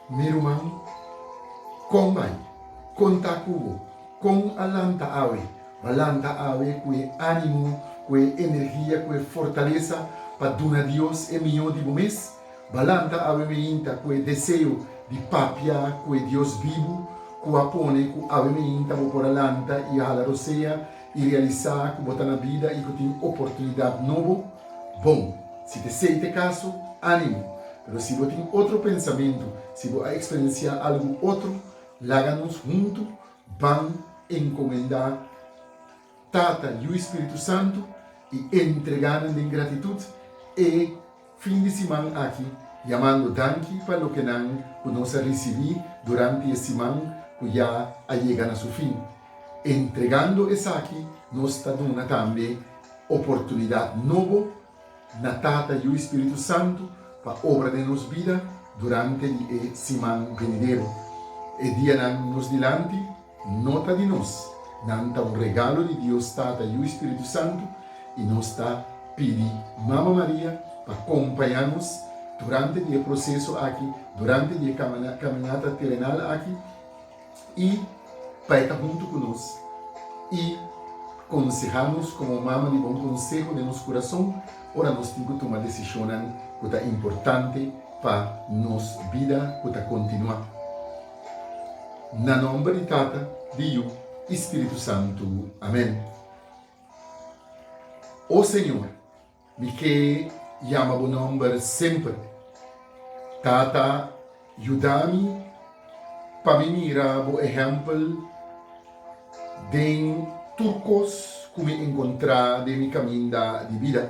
Mi ruman, kon bai? Kon ta ku bo? Kon a lanta awe? Bo lanta awe ku e ánimo, ku e energia, ku e fortalesa pa duna Dios e mihó di bo mes? Balam ta Awe Meinta ku e deseo di papia ku e Dios bibu ku a pone ku Awe Meinta bo por a lanta i a hala rosea i realisa ku bo ta na bida i ku tin oportunidat nobo. Bon, si te esei t'e kaso, animo! Pero si bo tin otro pensamentu, si bo a eksperensiá algu otro, laga nos huntu ban enkomendá. Tata, Yu i Spiritu Santu, i E ntregá nan den gratitut e fin di siman aki, yamando danki pa loke nan ku nos a risibí duranti e siman ku ya a yega na su fin. Entregando esaki nos ta duna tambe oportunidat nobo Na Tata, Yu i Spiritu Santu pa obra den nos bida durante di e siman benidero. E dianan nos dilanti no ta di nos, nan ta un regalo di Dios Tata, Yu i Spiritu Santu, i nos ta pidi Mama Maria pa kompañá nos durante di e proseso aki, durante di e kaminata terenal aki, i pa e ta huntu ku nos i konsehá nos komo mama di bon konseho den nos kurason ora nos tin ku tuma desishonnan ku ta importante pa nos bida ku ta kontinuá. Na nòmber di Tata, di Yu i Spiritu Santu. Amèn. O Señor. Mi ke yama bo nomber semper. Tata, yuda mi pa mi mira bo ehempel den tur kos ku mi enkontrá den mi kaminda di bida.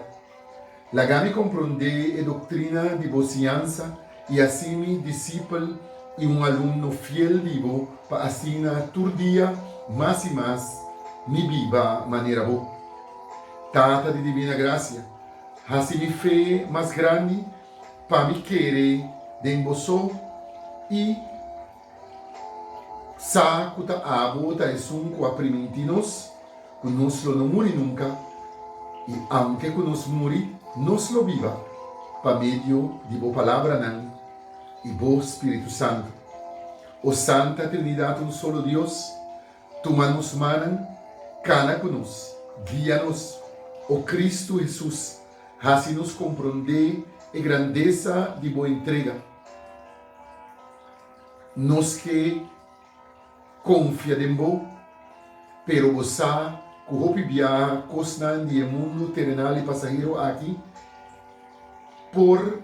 Laga mi kompronde e doktrina di bo siñansa. I así mi disipel i un alumno fiel di bo, pa asina tur dia mas i mas mi biba manera bo. Tata di divina gracia, hasi mi fe mas grandi pa mi kere den bo so i. Sa ku ta abo ta esun ku a primintí nos ku nos lo no muri nunka, i aunke ku nos muri, nos lo biba pa medio di bo palabranan i bo Spiritu Santu. O Santa Trinidat un solo Dios, tuma nos mannan, kana ku nos, guia nos. O Kristu Hesus, hasi nos komprondé e grandesa di bo entrega. Nos ke konfia den bo, pero bo sa ku hopi biaha kosnan di e mundu terenal i pasahero aki por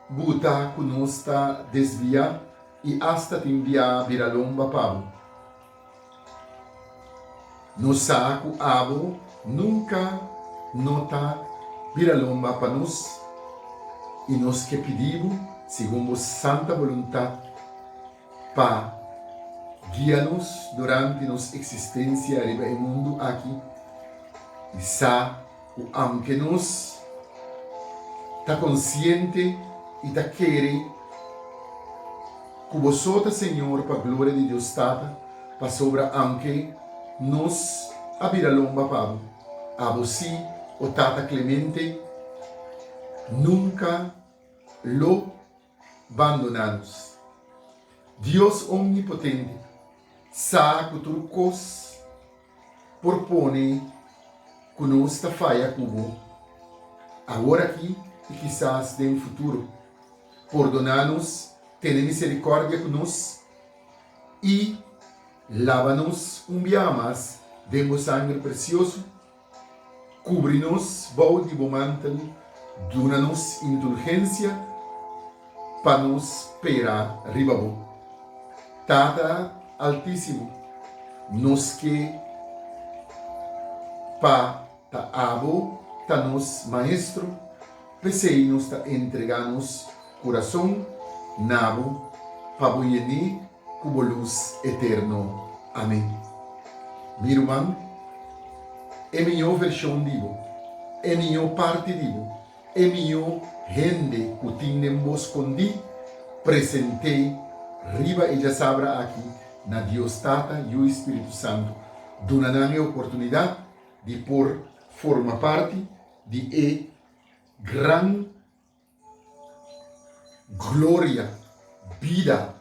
buta ku nos ta desviá i asta tin biaha bira lomba pa bo. Nos sa cu abo nunca no ta bira lomba pa nos, y nos ke pidi bo, segun bo santa boluntad, pa guia nos durante nos existencia riba e mundu aki, y sa Cu aunke nos ta conciente y ta kere cu bo so ta Señor pa gloria di Dios Tata, pasobra aunke nos a bira lomba pa bo, abo si, o Tata clemente, nunca lo. bandoná nos. Dios Omnipotente sa ku tur kos por pone ku nos ta faya ku bo, aworakí i kisas den futuro. Pordoná nos, tene miserikòrdia ku nos i laba nos un biaha mas den bo sangre presioso. Kubri nos bou di bo mantel, duna nos indulgensia pa nos pera riba bo. Tata Altísimo, nos ke pa ta abo ta nos Maestro, p'esei nos ta entrega nos Kurason na bo pa bo yené ku bo lus eterno. Amen. Mi ruman, e mió vershon di bo, e mió parti di bo, e mió hende ku tin den bo skondí, present'é riba e djasabra aki na Dios Tata, Yu i Spiritu Santu. Duna nan e oportunidat di por forma parti di e gran. Gloria, bida,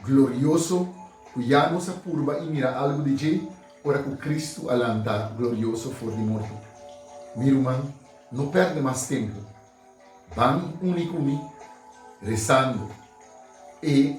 glorioso ku ya nos a purba i mira algu di dje ora ku Kristu a lanta glorioso for di morto. Mi ruman, no pèrdè mas tempu. Ban uni ku mi resando e.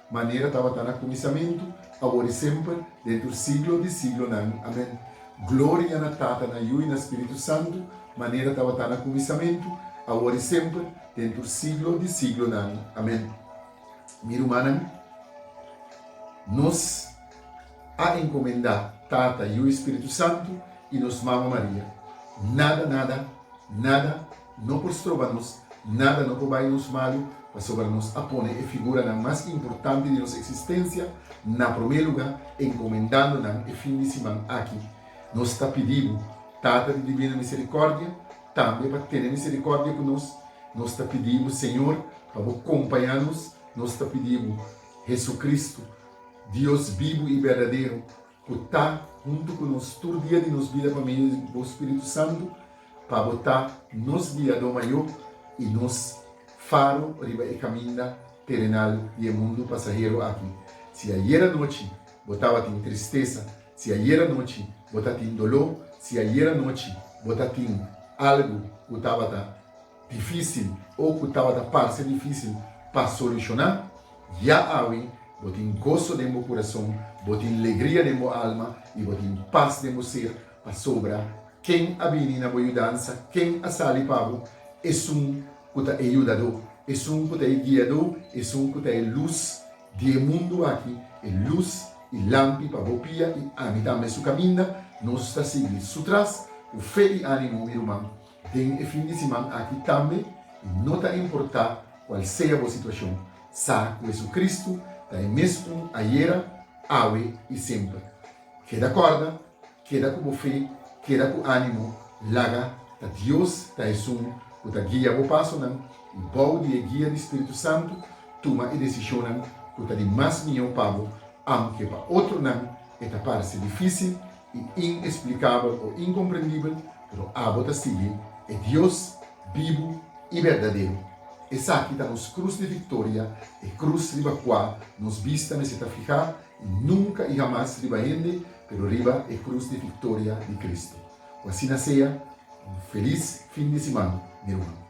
Manera tabata na kuminsamentu, awor i semper, dentur siglo di siglonan. Amen. Gloria na Tata, na Yu i na Spiritu Santu, manera tabata na kuminsamentu, awor i semper, dentur siglo di siglonan. Amen. Mi rumannan, nos a enkomendá Tata, Yu i Spiritu Santu, i nos Mama Maria. Nada, nada, nada. no por stroba nos nada, no por bai nos mali, pasobra nos a pone e figuranan mas importante di nos eksistensia na promé lugá, enkomendando nan e fin di siman aki. Nos ta pidi Bo, Tata di Dibino Miserikòrdia, tambe pa tene miserikòrdia ku nos. Nos ta pidi Bo, Señor, pa Bo kompañá nos. Nos ta pidi Bo, Hesukristu, Dios bibu i berdadero, Cu ta huntu cu nos tur dia di nos bida pa medio di bo Spiritu Santu, pa bo ta nos Guiadó Mayó i nos Faro riba e caminda terenal di e mundu pasahero aki. Si ayer anochi bo tabatin tristesa, si ayer anochi bo ta tin doló, si ayer anochi bo ta tin algu cu tabata, Difísil o ku tabata parse difísil pa solushoná? Ya awe bo tin goso den bo kurason, bo tin legria den bo alma i bo tin pas den bo ser pasobra Ken a bini na bo yudansa, Ken a sali pa bo, esun ku ta e Yudadó, esun ku ta e Guiadó, esun ku ta e Lus di e mundu aki, e lus i lampi pa bo pia i ami tambe su kaminda. Nos ta sigui Su tras ku fe i ánimu, mi ruman. Den e fin di siman aki tambe, i no ta importá kual sea bo situashon, sa ku JesuCristu ta e mes un ayera, awe i semper. Keda kòrda, keda ku bo fe, keda ku ánimo, laga ta Dios ta esun ku ta guia bo pasonan i bou di e guia di Spiritu Santu tuma e desishonnan ku ta di mas mihó pa bo, aunke pa otronan e ta parse difísil i inexplikabel o inkomprendibel, pero abo ta sigui e Dios bibu i berdadero. Esaki ta nos krus di viktoria, e krus riba kua nos bista mester ta fihá i nunka i hamas riba hende, pero riba e krus di viktoria di Kristu. Ku asina sea, un felis fin di siman, mi ruman.